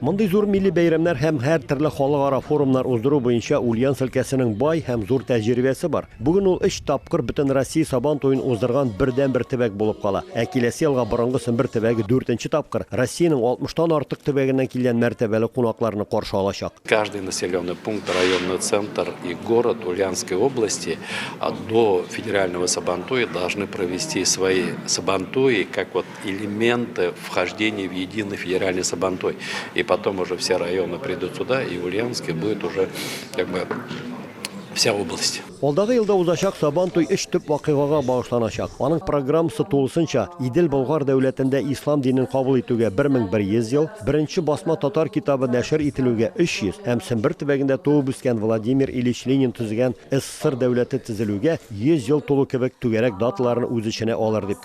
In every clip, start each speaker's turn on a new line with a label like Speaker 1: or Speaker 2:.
Speaker 1: Мондый зур милли бәйрәмнәр һәм һәр төрле халыкара форумнар уздыру буенча Ульяновск өлкәсенең бай һәм зур тәҗрибәсе бар. Бүген ул өч тапкыр Бөтенроссия Сабан туен уздырган бердәнбер төбәк булып кала. Ә киләсе елга борынгы Сембер төбәге дүртенче тапкыр Россиянең 60 тан артык төбәгеннән килгән мәртәбәле кунакларны каршы алачак. Каждый населенный
Speaker 2: пункт, районный центр и город Ульяновской области до федерального Сабантуя должны провести свои Сабантуи, как вот элементы вхождения в единый федеральный Сабантой. И потом уже все районы придут сюда, и Ульяновске будет уже как бы вся область. Алдагы елда узачак
Speaker 1: Сабан туй өч төп вакыйгага багышланачак. Аның программасы тулысынча Идел Болгар дәүләтендә ислам динен кабул итүгә 1100 ел, беренче басма татар китабы нәшер ителүгә 300 һәм Сембер төбәгендә туып үскән Владимир Ильич Ленин төзегән СССР дәүләте төзелүгә 100 ел тулу кебек түгәрәк даталарны үз эченә алыр дип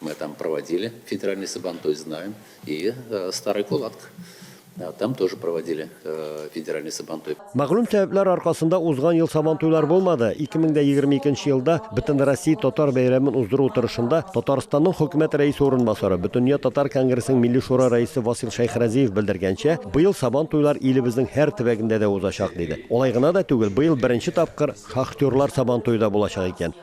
Speaker 3: Мы там проводили федеральный сабантуй, знаем. И э, Старый Кулатк. Э, там тоже проводили э, федеральный сабантуй. Мәгълүм сәбәпләр
Speaker 1: аркасында узган ел сабантуйлар булмады. 2022 елда Бөтенроссия татар бәйрәмен уздыру утырышында Татарстанның хөкүмәт рәисе орынбасары, Бөтендөнья татар конгрессының милли шура рәисе Васил Шәйхразиев белдергәнчә, быел сабантуйлар илебезнең һәр төбәгендә дә узачак диде. Алай гына да түгел, быел беренче тапкыр шахтерлар сабантуе да булачак икән.